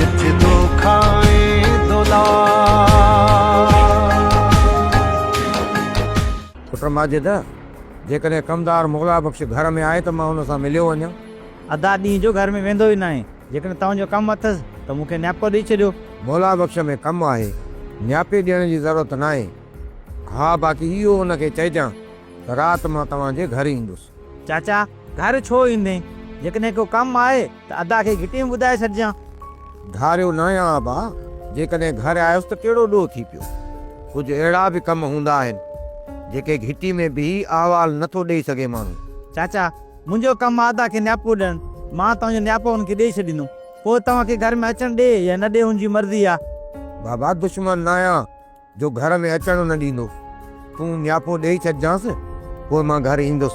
جت دوکا ۽ دولار. پٽ ماجد، جيڪڏهن ڪمدار مولا بخش گهر ۾ آهي ته مان هن سان مليو وڃان. ادا ڏينهن جو گهر ۾ ويندو ئي ناهي، جيڪڏهن توهان جو ڪم اٿس ته مون کي نياپو ڏئي ڇڏيو. مولا بخش ۾ ڪم آهي، نياپي ڏيڻ جي ضرورت ناهي. ها باقي اهو هن کي چئجان ته رات مان توهان جي گهر ايندس. چاچا، گهر ڇو ايندين؟ جيڪڏهن ڪو ڪم آهي ته ادا کي گهٽي ۾ ٻڌائي ڇڏجان. ڌاريو ناهيان ابا، جيڪڏهن گهر آيس ته ڪهڙو ڏوهه ٿي پيو. ڪجهه اهڙا به ڪم هوندا آهن، جيڪي گهٽي ۾ بيهي احوال نه ٿو ڏيئي سگهي ماڻهو. چاچا، منهنجو ڪم آهي ادا کي نياپو ڏيڻ. مان توهان جو نياپو هن کي ڏيئي ڇڏيندم. پوء توهان کي گهر ۾ اچڻ ڏي يا نه ڏي هن جي مرضي آهي. بابا دشمن ناهيان. جو گهر ۾ اچڻ نه ڏيندو. تون نياپو ڏيئي ڇڏجانس، پوء مان گهر ايندس.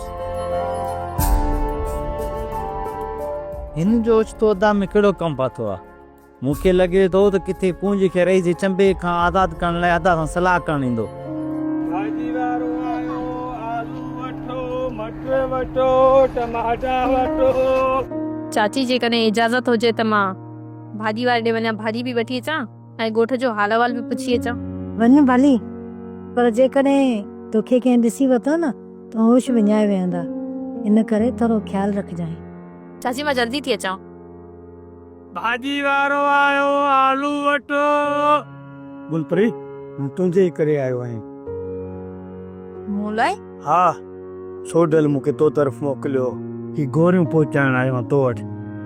هن جو اوچتو ادا ۾ ڪهڙو ڪم پاتو آهي؟ مون کي لڳي ٿو ته ڪٿي ڪونج کي رئيس جي چنبي کان آزاد ڪرڻ لاء ادا سان صلاح ڪرڻ ايندو. ڀاڄي وارو آيو، آلو وٺو، مٽر وٺو، ٽماٽا وٺو. چاچي جيڪڏهن اجازت هجي ته مان ڀاڄي واري ڏي وڃان ڀاڄي به وٺي اچان. ۽ ڳوٺ جو حال احوال به پڇي اچان. وڃ ڀلي، پر جيڪڏهن توکي ڪنهن ڏسي ورتو نه ته هوش وڃائي ويهندا، ان ڪري ٿورو خيال رکجانء. چاچي مان جلدي ٿي اچان. ڀاڄي وارو آيو آلو وٺڻ. گل پري، مان تنهنجي ئي ڪري آيو آهيان. مون لاء؟ ها، ڇو ڍل مون کي تو طرف موڪليو هو. هي گوريون پهچائڻ آيو آهيان تو وٽ،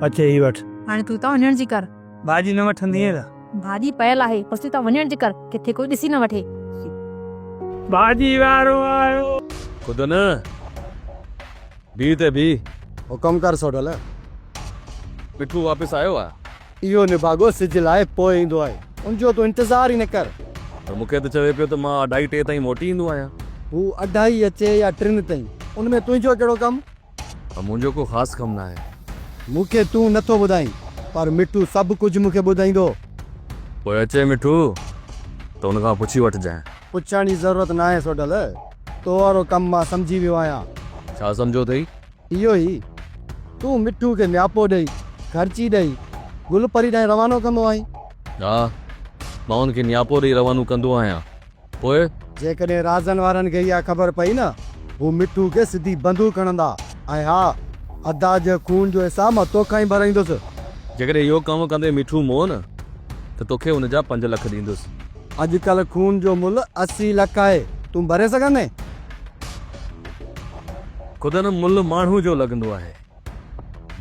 اچي هي وٺ. هاڻي تون اتان وڃڻ جي ڪر. ڀاڄي نه وٺندينء ته. ڀاڄي پيل آهي، پڇي ته وڃڻ جي ڪر، ڪٿي ڪوئي ڏسي نه وٺي. ڀاڄي وارو آيو. خود نه، بيهه ته بيهه. حڪم ڪر سوڍل. مٺو واپس آيو آ. اهو نڀاڳو سج لاء پوء ايندو آهي، ان جو تون انتظار ئي نه ڪر. ته مون کي ته چوي پيو ته مان اڍائي ٽي تائين موٽي ايندو آهيان. هو اڍائي اچي يا ٽن تائين، ان ۾ تنهنجو ڪهڙو ڪم؟ منهنجو ڪو خاص ڪم ناهي. مون کي تون نه ٿو ٻڌائين پر مٺو سڀ ڪجهه مون کي ٻڌائيندو. پوء اچي مٺو ته ان کان پڇي وٺجانء. پڇڻ جي ضرورت ناهي سوڍل. تو وارو ڪم مان سمجهي ويو آهيان. ڇا سمجهيو اٿئي؟ اهو ئي. تون مٺو کي نياپو ڏئي، خرچي ڏئي، گل پري ڏانهن روانو ڪندو آهين. ها. مان هن کي نياپو ڏئي روانو ڪندو آهيان. پوء؟ جيڪڏهن رازن وارن کي اها خبر پئي نه، هو مٺو کي سڌي بندوق هڻندا ۽ ها، ادا جي خون جو حساب مان تو کان ئي ڀرائيندس. جيڪڏهن اهو ڪم ڪندي مٺو مئو نه، ته توکي ان جا پنج لک ڏيندس. اڄڪلهه خون جو ملهه اسي لک آهي، تون ڀري سگهندين؟ خود ان ملهه ماڻهو جو لڳندو آهي،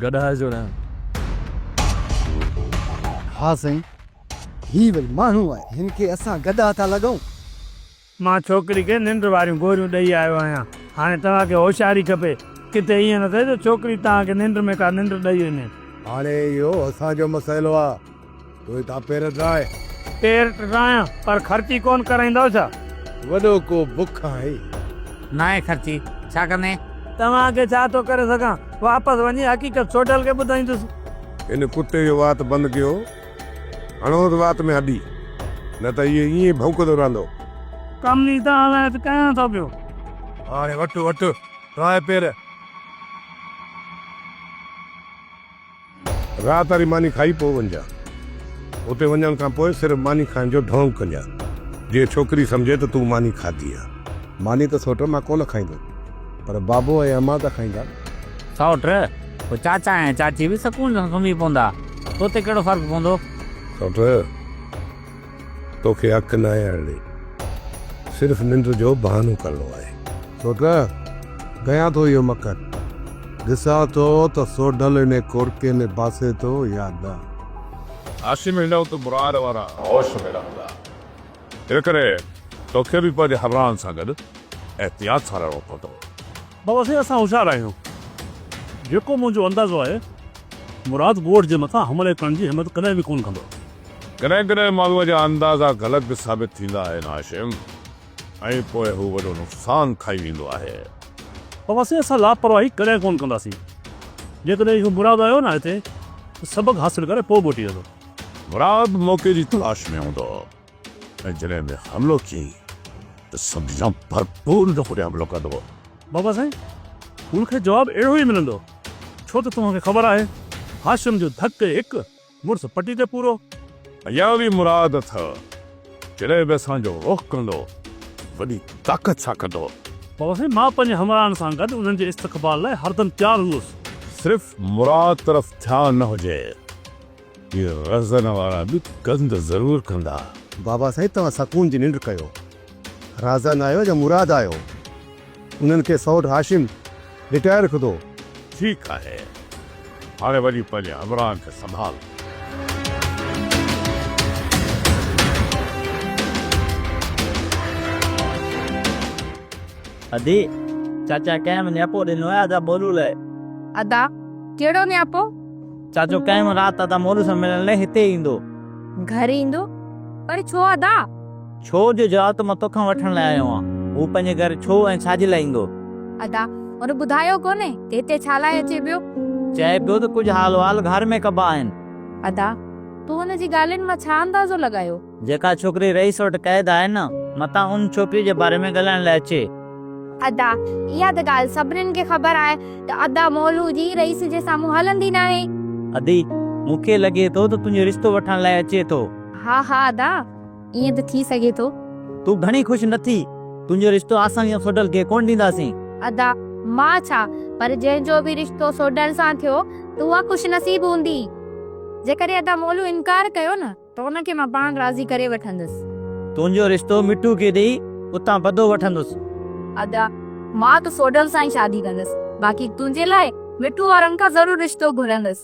گڏهه جو نه. ها سائين. هي وري ماڻهو آهي هن کي اسان گدا ٿا لڳون. مان ڇوڪري کي ننڊ واريون گوريون ڏئي آيو آهيان هاڻي توهان کي هوشياري کپي ڪٿي ائين نه ٿئي جو ڇوڪري توهان کي ننڊ ۾ ڪا ننڊ ڏئي وڃي. هاڻي اهو اسان جو مسئلو آ تو هتان پير ٽرائي. پير ٽرايان پر خرچي ڪون ڪرائيندؤ ڇا؟ وڏو ڪو بک آهي. ناهي خرچي ڇا ڪندين؟ توهان کي ڇا ٿو ڪري سگهان واپس وڃي حقيقت سوڍل کي ٻڌائيندس. هن ڪتي جو وات بند ڪيو هڻوس وات ۾ هڏي، نه ته هيء ائين ئي ڀونڪندو رهندو. ڪم جي تان هلائي ته ڪيان ٿو پيو. هاڻي وٺ وٺ ٽرائي پير. رات واري ماني کائي پوء وڃجان. اتي وڃڻ کان پوء صرف ماني کائڻ جو ڍونگ ڪجان. جيئن ڇوڪري سمجهي ته تون ماني کاڌي آ. ماني ته سوٽ مان ڪونه کائيندو. پر بابو ۽ امان ته کائيندا. سئوٽ، پوء چاچا ۽ چاچي به سڪون سان سمهي پوندا. تو تي ڪهڙو فرق پوندو؟ سئوٽ، توکي حق ناهي اڙي. صرف ننڊ جو بهانو ڪرڻو آهي. سئوٽ، ڪيان ٿو اهو مڪر. ڏسان ٿو ته سوڍل انهي ڪوڙڪي ۾ باسي ٿو يا نه. هاشم هيڏانهن ته مراد وارا هوش ۾ رهندا. ان ڪري توکي به پنهنجي همراهن سان گڏ احتياط سان رهڻو پوندو. بابا سائين اسان هوشيار آهيون. جيڪو منهنجو اندازو آهي مراد ڳوٺ جي مٿان حملي ڪرڻ جي همت ڪڏهن به ڪونه ڪندو. ڪڏهن ڪڏهن ماڻهوء جا اندازا غلط به ثابت ٿيندا آهن هاشم ۽ پوء هو وڏو نقصان کائي ويندو آهي. بابا سائين اسان لاپرواهي ڪڏهن ڪونه ڪنداسين. جيڪڏهن اهو مراد آيو نه هتي ته سبق حاصل ڪري پوء موٽي ويندو. مراد موقعي جي تلاش ۾ هوندو هو ۽ جڏهن به حملو ٿئي ته سمجهان ڀرپور ان تي حملو ڪندو هو. بابا سائين، هن کي جواب اهڙو ئي ملندو، ڇو ته توهان کي خبر آهي، هاشم جو ڌڪ هڪ، مڙس پٽي تي پورو. اڃا به مراد اٿئو، جڏهن به اسان جو رخ ڪندو، وڏي طاقت سان ڪندو. بابا سائين، مان پنهنجي همراهن سان گڏ انهن جي استقبال لاء هردم تيار هوس. صرف مراد طرف ڌيان نه هجي. هي رزن وارا به گند ضرور ڪندا. بابا سائين توهان سڪون جي ننڊ ڪيو. رازن آيو يا مراد آيو انهن کي سئوٽ هاشم لٽائي رکندو. ٺيڪ آهي هاڻي وڃي پنهنجي همراهن کي سنڀال. ادي، چاچا ڪنهن به نياپو ڏنو آهي ادا ٻولو لاء؟ ادا، ڪهڙو نياپو؟ چاچو ڪنهن به رات ادا مولوي سان ملڻ لاء هتي ايندو. گهر ايندو؟ پر ڇو ادا؟ ڇو جو جواب ته مان توکان وٺڻ لاء آيو آهيان. هو پنهنجي گهر ڇو ۽ ڇا جي لاء ايندو؟ ادا، هن ٻڌايو ڪونهي ته هتي ڇا لاء اچي پيو؟ چئي پيو ته ڪجهه حال وحال گهر ۾ ڪبا آهن. ادا، تو هن جي ڳالهين مان ڇا اندازو لڳايو؟ جيڪا ڇوڪري رئيس وٽ قيد آهي نه، متان ان ڇوڪري جي باري ۾ ڳالهائڻ لاء اچي. ادا، اها ته ڳالهه سڀنين کي خبر آهي ته ادا مولو جي رئيس جي سامهون هلندي ناهي. ادي، مون کي لڳي ٿو ته تنهنجو رشتو وٺڻ لاء اچي ٿو. ها ها ادا، ائين ته ٿي سگهي ٿو. تون گهڻي خوش نه ٿي. تنهنجو رشتو اسان جيان سوڍل کي ڪونه ڏينداسين. ادا، مان ڇا، پر جنهن جو به رشتو سوڍل سان ٿيو ته اها خوش نصيب هوندي. جيڪڏهن ادا مولو انڪار ڪيو نه. ته ان کي مان پاڻ راضي ڪري وٺندس. تنهنجو رشتو مٺو کي ڏيئي اتان بدو وٺندس. ادا! مان ته سوڍل سان ئي شادي ڪندس. باقي تنهنجي لاء مٺو وارن کان ضرور رشتو گهرندس.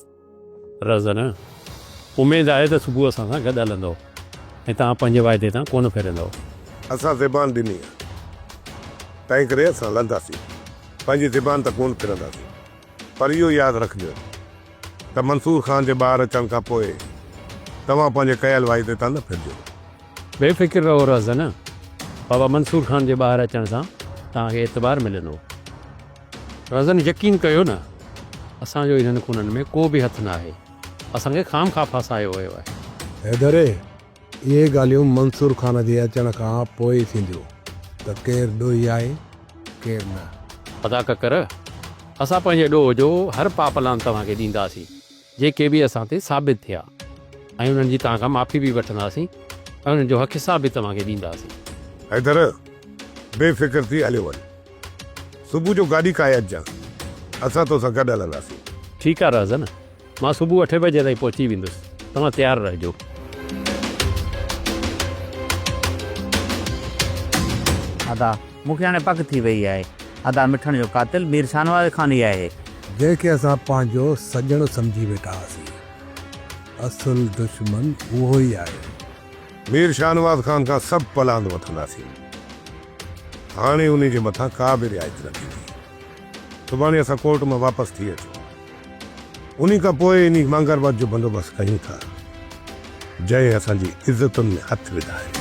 رزن! اميد آهي ته صبح اسان سان گڏ هلندؤ ۽ توهان پنهنجي واعدي تان ڪونه ڦرندؤ. اسان زبان ڏني آهي، تنهنڪري اسان لهنداسين. پنهنجي زبان تان ڪونه ڦرنداسين. پر اهو ياد رکجو ته منصور خان جي ٻاهر اچڻ کان پوء توهان پنهنجي ڪيل واعدي تان نه ڦرجو. بي فڪر رهو رهزن، بابا منصور خان جي ٻاهر اچڻ سان توهان کي اعتبار ملندو. رهزن يقين ڪيو نه، اسان جو انهن خونن ۾ ڪو به هٿ ناهي. اسان کي خام خواه ڦاسايو ويو آهي. حيدري! اهي ڳالهيون منصور خان جي اچڻ کان پوء ٿينديون ته ڪير ڏوهي آهي ڪير نه. ادا ڪڪر! اسان پنهنجي ڏوهه جو هر پاپ لعان توهان کي ڏينداسين جيڪي به اسان تي ثابت ٿيا ۽ انهن جي توهان کان معافي به وٺنداسين ۽ انهن جو حق حساب به توهان کي ڏينداسين. حيدر! بي فڪر ٿي هليو وڃ. صبح جو گاڏي ڪاهي اچجانء. اسان توسان گڏ هلنداسين. ٺيڪ آهي رهزن. مان صبح اٺين بجي تائين پهچي ويندس توهان تيار رهجو. ادا مون کي هاڻي پڪ ٿي وئي آهي. ادا مٺڻ جو قاتل مير شاهنواز خان ئي آهي. جنهن کي اسان پنهنجو سڄڻ سمجهي ويٺا هئاسين اصل دشمن اهو ئي آهي. مير شاهنواز خان کان سڀ پلاند وٺنداسين. هاڻي انهي جي مٿان ڪا به رعايت نه ٿيندي. سڀاڻي اسان ڪورٽ مان واپس ٿي اچون. انهي کان پوء انهي مانگربت جو بندوبست ڪيون ٿا، جنهن اسان جي عزتن ۾ هٿ وڌا آهن.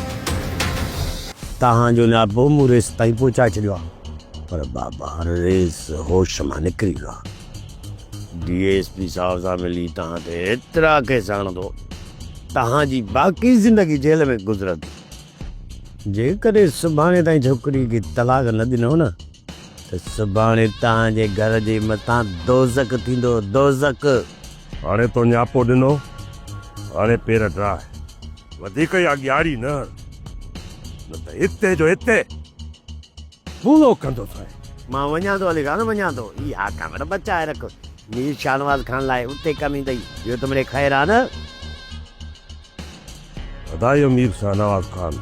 تهان جو نياپو به مون ريس تائين پهچائي ڇڏيو آهي. پر بابا، ريس هوش مان نڪري ويو آهي. ڊي ايس پي صاحب سان ملي تهان تي ايترا ڪيس هڻندو، تهان جي باقي زندگي جيل ۾ گذرندي. جيڪڏهن سڀاڻي تائين ڇوڪري کي طلاق نه ڏنو نه. ته سڀاڻي توهان جي گهر جي مٿان دوزخ ٿيندو دوزخ. هاڻي تو نياپو ڏنو هاڻي پير ڊاهه وڌيڪ يا ڳياڙي نه هڻ نه ته هتي جو هتي ڦولو ڪندوسانء. مان وڃان ٿو علي خان وڃان ٿو اها ڪانگڙ بچائي رک مير شاهنواز خان لاء اتي ڪم ايندئي ٻيو ته مڙي خير آ نه. ادا اهو مير شاهنواز خان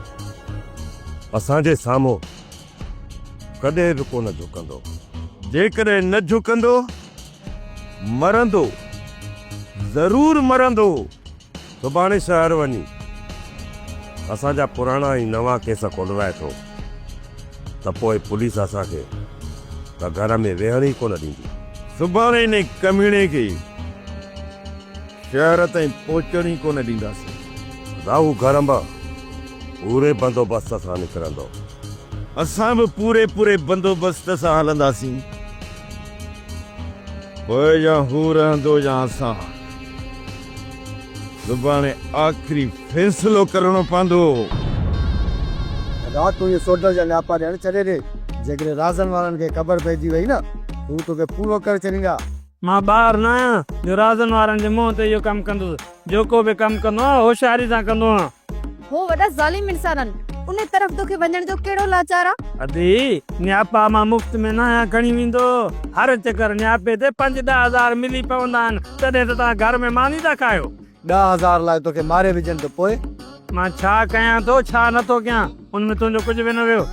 اسان جي سامهون ڪڏهن به ڪونه جهڪندو. جيڪڏهن نه جهڪندو، مرندو، ضرور مرندو. سڀاڻي شهر وڃي اسان جا پراڻا ۽ نوان ڪيس کولرائي ٿو ته پوء پوليس اسان کي ته گهر ۾ ويهڻ ئي ڪونه ڏيندي. سڀاڻي انهي ڪميڻي کي. شهر تائين پهچڻ ئي ڪونه ڏينداسين. راهو گهر انبا پوري بندوبست سان نڪرندو. اسان به پوري پوري بندوبست سان هلنداسين. پوء يا هو رهندو يا اسان. سڀاڻي آخري فيصلو ڪرڻو پوندو. رات تون اهي سوڍل جا نياپا ڏيڻ ڇڏي ڏي. جيڪڏهن رازن وارن کي خبر پئجي وئي نه، هو توکي پورو ڪري ڇڏيندا. مان ٻار نه آهيان جو رازن وارن جي منهن تي اهو ڪم ڪندس. جو ڪو به ڪم ڪندو آهيان هوشياري سان ڪندو آهيان. هو وڏا ظالم انسان آهن. انهي طرف توکي وڃڻ جو ڪهڙو لاچار آ؟ ادي، نياپا مان مفت ۾ نه آهيان کڻي ويندو. هر چڪر نياپي تي پنج ڏهه هزار ملي پوندا آهن. تڏهن ته توهان گهر ۾ ماني ٿا کايو. ڏهه هزار لاء توکي ماري وجهن ته پوء؟ مان ڇا ڪيان ٿو ڇا نه ٿو ڪيان ان ۾ تنهنجو ڪجهه به نه ويو.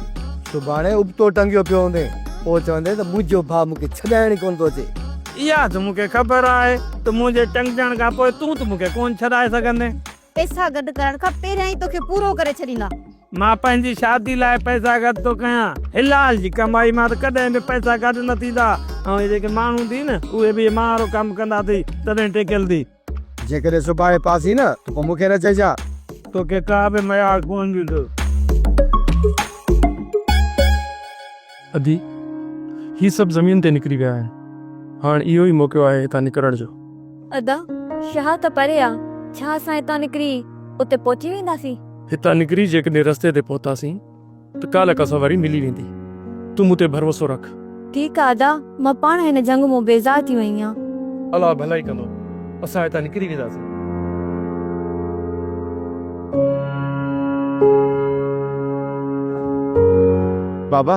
سڀاڻي ابتو ٽنگيو پيو هوندين پوء چوندين ته منهنجو ڀاء مون کي ڇڏائڻ ئي ڪونه ٿو اچي. اها ته مون کي خبر آهي ته منهنجي ٽنگجڻ کان پوء تون ته مون کي ڪونه ڇڏائي سگهندين. پئسا گڏ ڪرڻ کان پهريان ئي توکي پورو ڪري ڇڏيندا. مان پنهنجي شادي لاء پئسا گڏ ٿو ڪيان. حلال جي ڪمائي مان ته ڪڏهن به پئسا گڏ نه ٿيندا. ۽ اهي جيڪي ماڻهو اٿئي نه اهي به اهي ماڻهن وارو ڪم ڪندا اٿئي تڏهن ٽيڪيل اٿئي. جيڪڏهن سڀاڻي پاسين نه ته پوء مون کي نه چئجان. توکي ڪا به ميار ڪونه ڏيندو. ادي، هي سڀ زمين تي نڪري ويا آهن. هاڻ اهو ئي موقعو آهي هتان نڪرڻ جو. ادا، شاهه ته پري آ. ڇا اسان هتان نڪري اتي پهچي وينداسين؟ هتان نڪري جيڪڏهن رستي تي پهتاسين ته ڪالهه ڪا سواري ملي ويندي. تون مون تي ڀروسو رک. ٺيڪ آ ادا، مان پاڻ هن جهنگ مون بيزار ٿي وئي آهيان. الله ڀلائي ڪندو، اسان هتان نڪري وينداسين. بابا!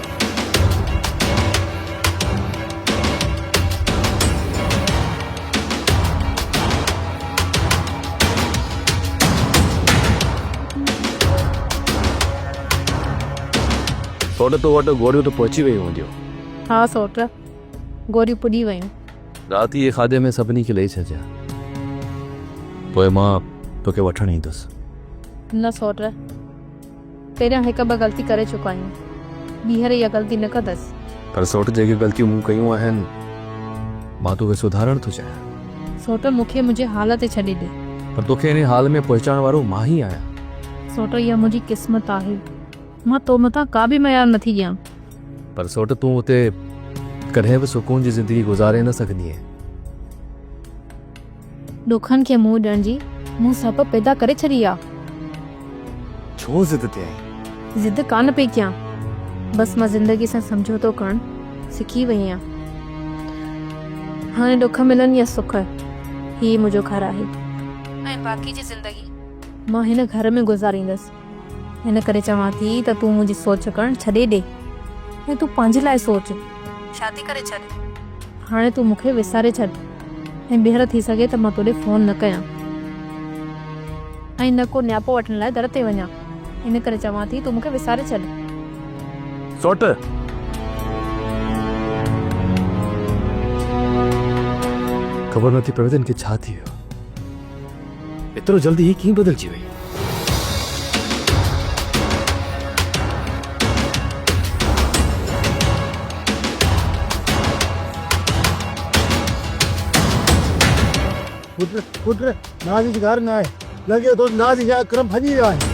سوٽ تو وٽ گوريون ته پهچي ويون هونديون ها سوٽ گوريون پڄي ويون رات جي کاڌي ۾ سڀني کي ڏئي ڇڏجا پوء مان توکي وٺڻ ايندس نه سوٽ پهريان هڪ ٻه غلطي ڪري چڪو آهيان ٻيهر اها غلطي نه ڪندس. پر سوٽ جيڪي غلطيون مون ڪيون آهن مان توکي سڌارڻ ٿو چاهيان. سوٽ مون کي منهنجي حال تي ڇڏي ڏي. پر توکي انهي حال ۾ پهچائڻ وارو مان ئي آهيان. سوٽ اها منهنجي قسمت آهي مان تو مٿان ڪا به ميار نه ٿي ڏيان. پر سوٽ تون اتي ڪڏهن به سڪون جي زندگي گذاري نه سگهندينء. ڏکن کي منهن ڏيڻ جي مون سهپ پيدا ڪري ڇڏي آ. ڇو ضد تي آهين؟ ضد ڪانه پئي ڪيان. بس مان زندگي سان سمجهوتو ڪرڻ سکي وئي آهيان. هاڻي ڏک ملن يا سک هي ئي منهنجو گهر آهي ۽ باقي جي زندگي مان هن گهر ۾ گذاريندس. ان ڪري چوان ٿي ته تون منهنجي سوچ ڪرڻ ڇڏي ڏي ۽ تون پنهنجي لاء سوچ. شادي ڪري ڇڏ. هاڻي تون مون کي وساري ڇڏ ۽ ٻيهر ٿي سگهي ته مان تو ڏي فون نه ڪيان ۽ نه ڪو نياپو وٺڻ لاء در تي وڃان. ان ڪري چوان ٿي تون مون کي وساري ڇڏ. سوٽ. خبر نه ٿي پوي ته هن کي ڇا ٿي ويو. ايترو جلدي هي ڪيئن بدلجي وئي؟ پٽ پٽ نازي جي گهر نه آهي لڳي ٿو نازي جا اڪرم ڀڄي ويا آهن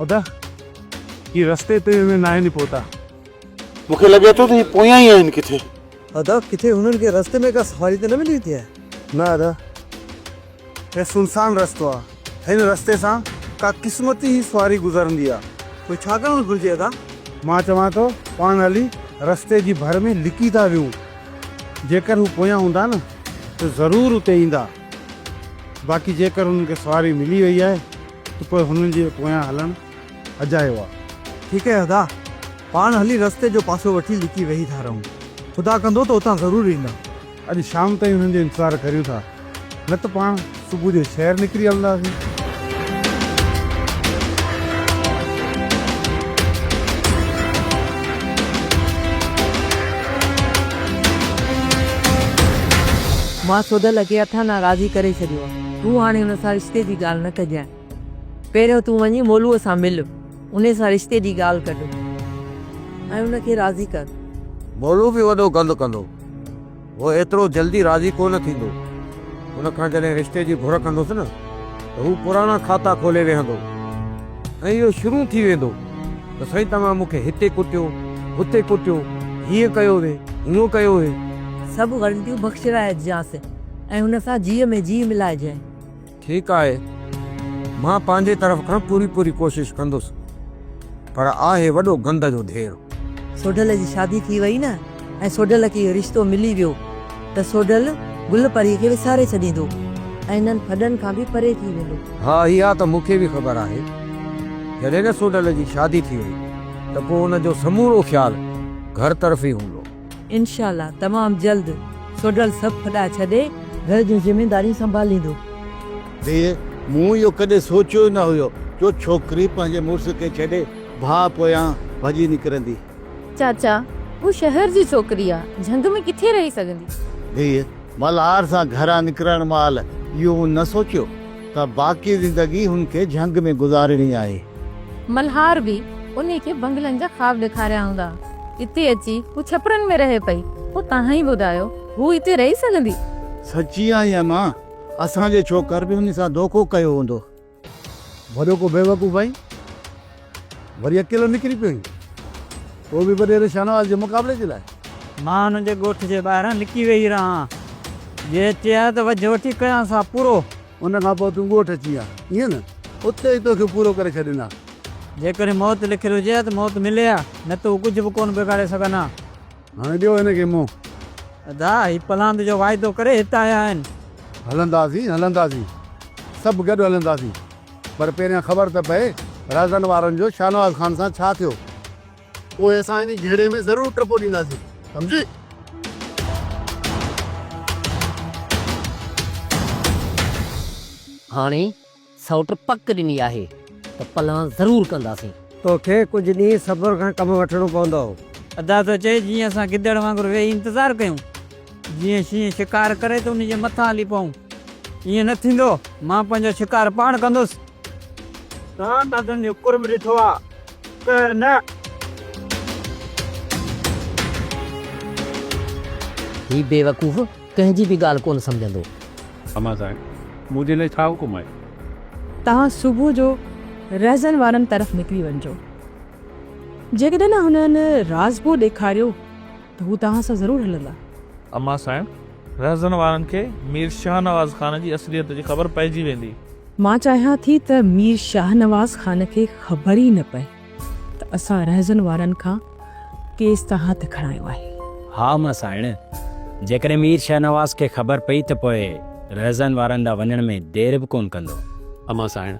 ادا هي رستي تي ۾ ناهي ني پهتا. مون کي لڳي ٿو ته هي پويان ئي آهن ڪٿي. ادا ڪٿي هنن کي رستي ۾ ڪا سواري ته نه ملي ويٺي آهي. نه ادا هي سنسان رستو آ. هن رستي سان ڪا قسمتي ئي سواري گذرندي آ. پوء ڇا ڪرڻ گهرجي ادا؟ مان چوان ٿو پاڻ هلي رستي جي ڀر ۾ لڪي ٿا ويهون. جيڪر هو پويان هوندا نه ته ضرور اتي ايندا. باقي جيڪر هنن کي سواري ملي وئي آهي ته پوء هنن جي پويان هلڻ اجايو آ. ٺيڪ آهي ادا. پاڻ هلي رستي جو پاسو وٺي لڪي ويهي ٿا رهون. خدا ڪندو ته اتان ضرور ايندا. اڄ شام تائين انهن جو انتظار ڪريون ٿا نه ته پاڻ صبح جو شهر نڪري هلنداسين. مان سوڍل کي اٿان ڏانهن راضي ڪري ڇڏيو آهي. تون هاڻي ان سان رشتي جي ڳالهه نه ڪجانء. پهريون تون وڃي مولوء سان مل. انهي سان رشتي جي ڳالهه ڪڍ ۽ ان کي راضي ڪر. مولو به وڏو گند ڪندو. هو ايترو جلدي راضي ڪو نه ٿيندو. هن کان جڏهن رشتي جي گهر ڪندس نه ته هو پراڻا کاتا کولي ويهندو ۽ اهو شروع ٿي ويندو ته سائين توهان مون کي هتي ڪٽيو، هتي ڪٽيو، هيئن ڪيو وي، هونئن ڪيو وي. سڀ غلطيون بخشرائجيانس ۽ هن سان جيء ۾ جيء ملائجي. ٺيڪ آهي، مان پنهنجي طرف کان پوري پوري ڪوشش ڪندس، پر آهي وڏو گند جو ڍير. سوڍل جي شادي ٿي وئي نه ۽ سوڍل کي اهو رشتو ملي ويو ته سوڍل گل پري کي وساري ڇڏيندو ۽ هنن ڦڏن کان به پري ٿي ويندو. ها اها ته مون کي به خبر آهي، جڏهن نه سوڍل جي شادي ٿي وئي ته پوء ان جو سمورو خيال گهر طرف ئي هوندو. انشاء الله تمام جلد سوڍل سڀ ڦڏا ڇڏي گهر جون ذميداريون سنڀاليندو. ڌيء، مون اهو ڪڏهن سوچيو ئي نه هيو جو ڇوڪري پنهنجي مڙس کي ڇڏي ڀاء پويان ڀڄي نڪرندي. چاچا، هوء شهر جي ڇوڪري آ، جهنگ ۾ ڪٿي رهي سگهندي. ڌيء، ملهار سان گهران نڪرڻ مهل اهو مون نه سوچيو. ته باقي زندگي هن کي جهنگ ۾ گذارڻي آهي. ملهار به انهي کي بنگلن جا خواب ڏيکاريا هوندا. اتي اچي هو ڇپرن ۾ رهي پئي. پوء توهان ئي ٻڌايو، هو اتي رهي سگهندي؟ سچي آهين امان، اسان جي ڇوڪر به هن سان دوکو ڪيو هوندو. وڏو ڪو بيوقوف آهين. وري اڪيلو نڪري پيو هين، اهو به وڏيري شاهنواز جي مقابلي جي لاء. مان هن جي ڳوٺ جي ٻاهران لڪي ويهي رهان، جي چئي ها ته وجهه وٺي ڪيان سا پورو. ان کان پوء تون ڳوٺ اچين ها، ائين نه؟ اتي ئي تو کي پورو ڪري ڇڏين ها. جيڪڏهن موت لکيل هجي ها ته موت ملي ها، نه ته هو ڪجهه به ڪونه بگاڙي سگهن ها. هاڻي ڏيو هن کي منهن. ادا، هي پلاند جو واعدو ڪري هت آيا آهن. هلنداسين، هلنداسين، سڀ گڏ هلنداسين. پر پهريان خبر ته پئي رازن وارن جو شاهنواز خان سان ڇا ٿيو. پوء اسان انهي جهيڙي ۾ ضرور ٽپو ڏينداسين. سمجهي؟ هاڻي سئوٽ پڪ ڏني آهي ته پلان ضرور ڪنداسين. توکي ڪجهه ڏينهن صبر کان ڪم وٺڻو پوندو. ادا ٿو چئي جيئن اسان گدڙ وانگر ويهي انتظار ڪيون. جيئن شينهن شڪار ڪري ته ان جي مٿان هلي پئون. ائين نه ٿيندو. مان پنهنجو شڪار پاڻ ڪندس. توهان ڪڌن جو قرب ڏٺو آ، قهر نه. هي بيوقوف ڪنهن جي به ڳالهه ڪونه سمجهندو. امان صاحب، مون جي لاء ڇا حڪم آهي؟ توهان صبح جو رهزن وارن طرف نڪري وڃجو. جيڪڏهن هنن رازپور ڏيکاريو. ته هو توهان سان ضرور هلندا. امان صاحب! رهزن وارن کي مير شاهنواز خان جي اصليت جي خبر پئجي ويندي. مان چاهيان ٿي ته مير شاهنواز خان کي خبر ئي نه پئي ته اسان رهزن وارن کان ڪيس تان هٿ کڻايو آهي. ها امان سائڻ! جيڪڏهن مير شاهنواز کي خبر پئي ته پوء رهزن وارن ڏانهن وڃڻ ۾ دير به ڪونه ڪندو. امان سائڻ!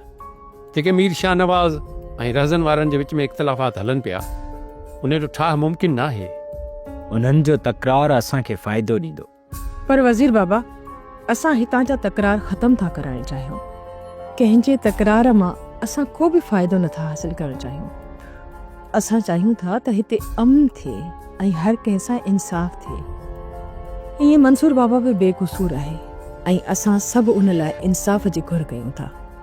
جيڪي مير شاهنواز ۽ رهزن وارن جي وچ ۾ اختلافات هلن پيا، انهي جو ٺاهه ممڪن ناهي. انهن جو تڪرار اسان کي فائدو ڏيندو. پر وزير بابا، اسان هتان جا تڪرار ختم ٿا ڪرائڻ چاهيون. ڪنهن جي تڪرار مان اسان ڪو به فائدو نه ٿا حاصل ڪرڻ چاهيون. اسان چاهيون ٿا ته هتي امن ٿئي ۽ هر ڪنهن سان انصاف ٿئي. ائين منصور بابا به بي قصور آهي ۽ اسان سڀ ان لاء انصاف جي گهر ڪيون ٿا.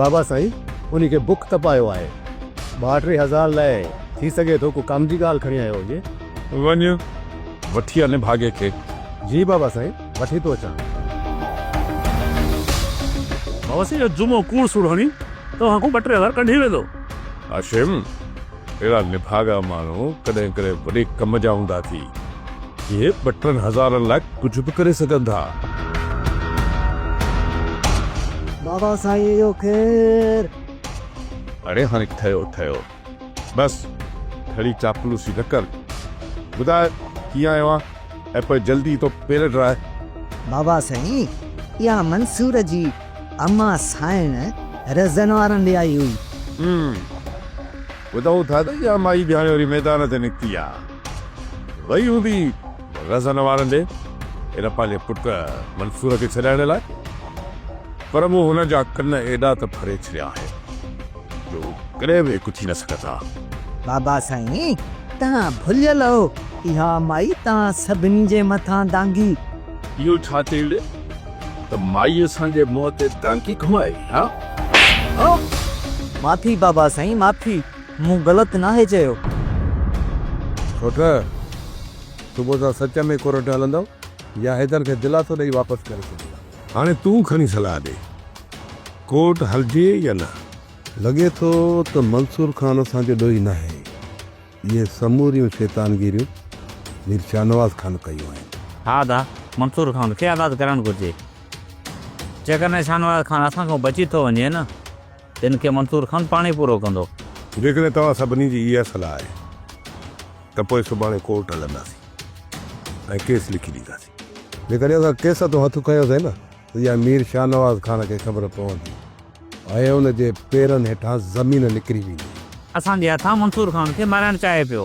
بابا سائين انهي کي بک تپايو آهي. ٻاهه ٽي هزار لاء ٿي سگهي ٿو ڪو ڪم جي ڳالهه کڻي آيو هجي. وڃ وٺي آ نڀاڳي کي. جي بابا سائين وٺي ٿو اچان. بابا سائين اهو جمعو ڪوڙ سوڙ هڻي توهان کان ٻه ٽي هزار ڪڍي ويندو. هاشم اهڙا نڀاڳا ماڻهو ڪڏهن ڪڏهن وڏي ڪم جا هوندا ٿي، جي ٻه ٽن هزارن لاء ڪجهه به ڪري سگهن ٿا. بابا سائين اهو ڪير؟ اڙي هاڻي ٺهيو ٺهيو. بس ٺڙي چاپلوسي نه ڪر. ٻڌاء ڪيئن آيو آن ۽ پوء جلدي ٿو پير ڊراء. بابا سائين اها منصور جي اما سائڻ رزن وارن ڏي آئي هئي. هم. ٻڌائون ٿا ته اها مائي به هاڻي وري ميدان تي نڪتي آ. وئي هوندي رزن وارن ڏي ان پنهنجي پٽ منصور کي ڇڏائڻ لاء. پر مون هن جا ڪن ايڏا ته ڦري ڇڏيا آهن جو هو ڪڏهن به هڪ ٿي نه سگهندا. بابا سائين توهان ڀليل آهو. اها مائي توهان سڀني جي مٿان دانگي. اهو ڇا ٿي وڙهي. ته مائي اسان جي منهن تي ٽانڪي گهمائي ها ها. معافي بابا سائين معافي مون غلط ناهي چيو. ٺٽ صبح سان سچ ۾ ڪورٽ هلندو يا حيدر کي دلاسو ڏئي واپس ڪري ڇڏيندا. هاڻي تون کڻي صلاح ڏي ڪورٽ هلجي يا نه. لڳي ٿو ته منصور خان اسان جو ڏوهي ناهي. اهي سموريون شيطانگيريون مير شاهنواز خان ڪيون آهن. ها ته منصور خان کي آزاد ڪرڻ گهرجي. جيڪڏهن شاهنواز خان اسان کان بچي ٿو وڃي نه ته ان کي منصور خان پاڻ ئي پورو ڪندو. جيڪڏهن توهان سڀني جي اها صلاح آهي ته پوء سڀاڻي ڪورٽ هلنداسين ۽ ڪيس لکي ڏينداسين. جيڪڏهن اسان ڪيس هٿون هٿ کنيوسين نه. اها مير شاهنواز خان کي خبر پوندي ۽ ان جي پيرن هيٺان زمين نڪري ويندي. اسان جي هٿان منصور خان کي مارائڻ چاهي پيو.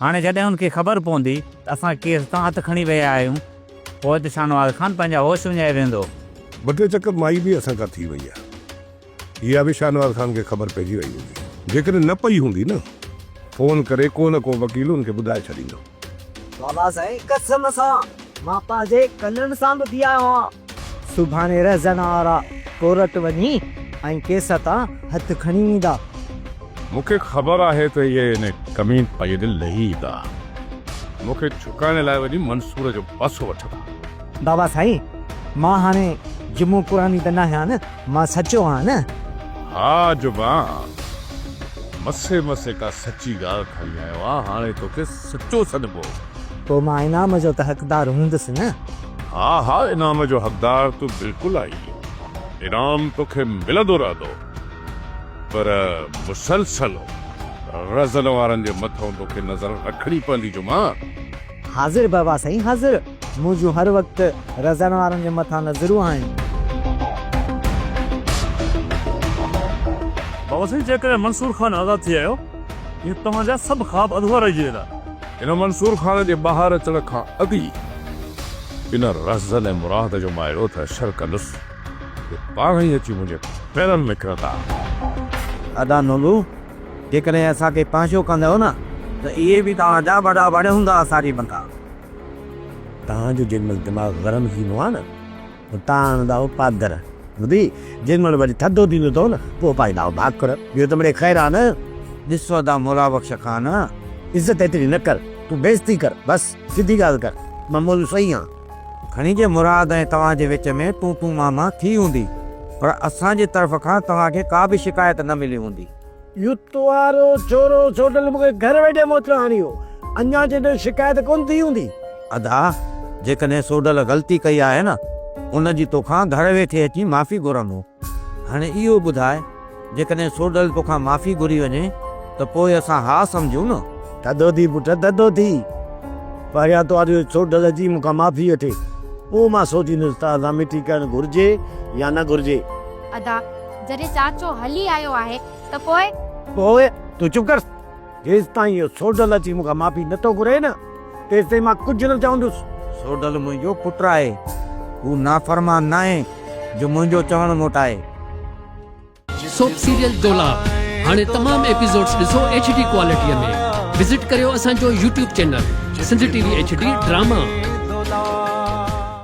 هاڻي جڏهن ان کي خبر پوندي ته اسان ڪيس تان هٿ کڻي ويا آهيون، پوء ته شاهنواز خان پنهنجا هوش وڃائي ويندو. ٻه ٽي چڪر مائي به اسان کان ٿي وئي آهي. اها به شاهنواز خان کي خبر پئجي وئي هوندي. جيڪڏهن نه پئي هوندي نه، فون ڪري ڪو نه ڪو وڪيل هن کي ٻڌائي ڇڏيندو. بابا سائين قسم سان مان پنهنجي ڪنن سان ٻڌي آيو آهيان. سڀاڻي رهزن وارا ڪورٽ وڃي ۽ ڪيس تان هٿ کڻي ايندا. مون کي خبر آهي ته اهي ان ڪمين پئي ڏي لهي ايندا. مون کي ڇڪائڻ لاء وڃي منصور جو پاسو وٺندا. بابا سائين مان هاڻي جمعو قراني ته ناهيان مان سچو آهيان نه؟ ها جبا مسي مسي ڪا سچي ڳالهه کڻي آيو آهي هاڻي توکي سچو سڏبو. پوء مان انعام جو ته حقدار هوندس نه؟ ها ها انعام جو حقدار تون بلڪل آهين انعام توکي ملندو رهندو پر مسلسل رزن وارن جي مٿئون توکي نظر رکڻي پوندي جبا. حاضر بابا سائين حاضر. منهنجون هر وقت رزڻ وارن جي مٿان نظرون آهن. بابا سائين جيڪڏهن منصور خان آزاد ٿي آيو ته توهان جا سڀ خواب اڌورا رهجي ويندا. هن منصور خان جي ٻاهر اچڻ کان اڳ ئي ان رزن ۽ مراد جو مان اهڙو ته اشر ڪندس جو پاڻ ئي اچي منهنجي پيرن ۾ ڪرندا. ادا نولو جيڪڏهن اسان کي پنهنجو ڪندؤ نه ته اهي به توهان جا وڏا وڻ هوندا اسان جي بندا. توهان جو جيڏي مهل دماغ گرم ٿيندو آهي نه ته توهان آڻندؤ پادر ٻڌي جيڏي مهل وري ٿڌو ٿيندو اٿو نه پوء پائيندؤ ڀاڪر اهو ته مڙئي خير آهي نه. ڏس ادا مولا بخش خان عزت ايتري نه ڪر تون بي عزتي ڪر بس سڌي ڳالهه ڪر مان مولوي صحيح آهيان. کڻي جي مراد ۽ توهان جي وچ ۾ تون تون مان مان ٿي هوندي پر اسان جي طرف کان توهان کي ڪا به شڪايت نه ملي هوندي. يوتوارو چورو سوڍل مونکي گهر ويٺي موچڙو هڻي ويو اڃان چيندو شڪايت ڪونه ٿي هوندي. ادا جيڪڏهن سوڍل غلطي ڪئي آهي نه ان جي توکان گهر ويٺي اچي معافي گهرندو هاڻي اهو ٻڌاء جيڪڏهن سوڍل توکان معافي گهري وڃي ته پوء اسان ها سمجهون نه. ٿڌو ٿي پٽ ٿڌو ٿي. پهريان تون آڏيو سوڍل اچي مون کان معافي وٺي. پوء مان سوچيندس ته اسان مٺي ڪرڻ گهرجي يا نه گهرجي. ادا، جڏهن چاچو هلي آيو آهي ته پوء. پوء تون چپ ڪر. جيستائين اهو سوڍل اچي مون کان معافي نه ٿو گهري نه، تيستائين مان ڪجهه نه چوندس. سوڍل منهنجو پٽ آهي. هو نافرمان ناهي جو منهنجو چوڻ موٽائي. سوپ سيريل دولاب هاڻي تمام ايپيسوڊز ڏسو ايڇ ڊي ڪوالٽيء ۾ وزٽ ڪريو اسان جو YouTube channel Sindh T V H D drama.